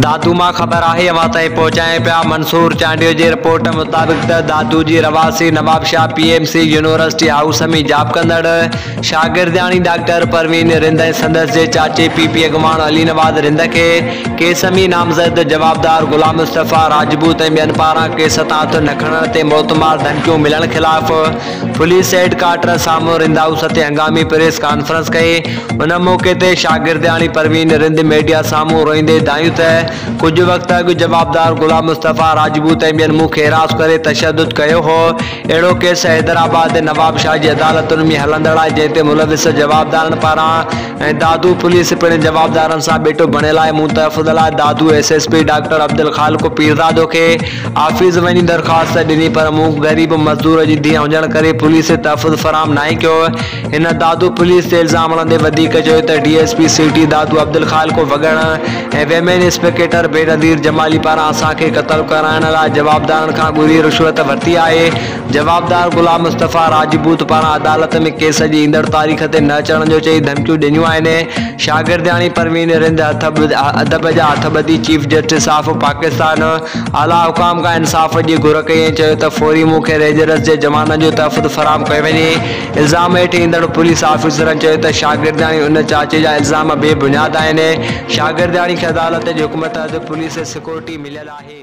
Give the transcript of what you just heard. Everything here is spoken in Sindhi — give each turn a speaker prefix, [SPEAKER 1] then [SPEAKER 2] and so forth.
[SPEAKER 1] دادو مان خبر آهي اوهان تائين پهچائين پيا منصور چانڊيو جي رپورٽ مطابق ته دادو جي رهواسي Nawabshah P M C university house ۾ job ڪندڙ شاگردياڻي ڊاڪٽر پروين رند ۽ سندس جي چاچي پي پي اڳواڻ علي نواز رند کي ڪيس ۾ نامزد جوابدار غلام مصطفيٰ راجپوت ۽ ٻين پاران ڪيس تان هٿ نه کڻڻ تي موتمار ڌمڪيون ملڻ خلاف فليسيٽ ڪارٽر سامهون رند هائوس تي هنگامي پريس ڪانفرنس ڪئي، ان موقعي تي شاگردياڻي پروين رند ميڊيا سامهون روئيندي دانهيون ته ڪجهه وقت اڳ جوابدار غلام مصطفيٰ راجپوت ۽ ٻين مون کي حراس ڪري تشدد ڪيو هو، اهڙو ڪيس حيدرآباد ۽ نوابشاهه جي عدالتن ۾ هلندڙ آهي جنهن تي ملوث جوابدارن پاران ۽ دادو پوليس پڻ جوابدارن سان ٻيٽو بڻيل آهي، مون تحفظ لاء Dadu S S P doctor Abdul Khaliq Pirzada کي. آفيس وڃي درخواست ته ڏني پر مون غريب مزدور جي ڌيء هجڻ ڪري پوليس کي تحفظ فراهم ناهي ڪيو هو. هن دادو پوليس تي الزام هڻندي وڌيڪ چيو ته D S P city Dadu عبدالخالقو Wagan ۽ women inspector Benazir Jamali پاران اسان کي قتل ڪرائڻ لاء جوابدارن کان ڳري رشوت ورتي آهي. جوابدار غلام مصطفيٰ راجپوت پاران عدالت ۾ ڪيس جي ايندڙ تاريخ تي نه اچڻ جو چئي ڌمڪيون ڏنيون آهن، شاگردياڻي پروين رند ادب جا هٿ ٻڌي چيف جسٽس آف پاڪستان اعليٰ حڪام کان انصاف جي گهر ڪئي ۽ چيو ته فوري مون کي رينجرز جي جوانن جو تحفظ فراهم ڪيو وڃي، الزام هيٺ ايندڙ پوليس آفيسرن چيو ته شاگردياڻي ان چاچي جا الزام بي بنياد آهن، شاگردياڻي کي عدالت جي حڪم تحت پوليس سيڪورٽي مليل آهي.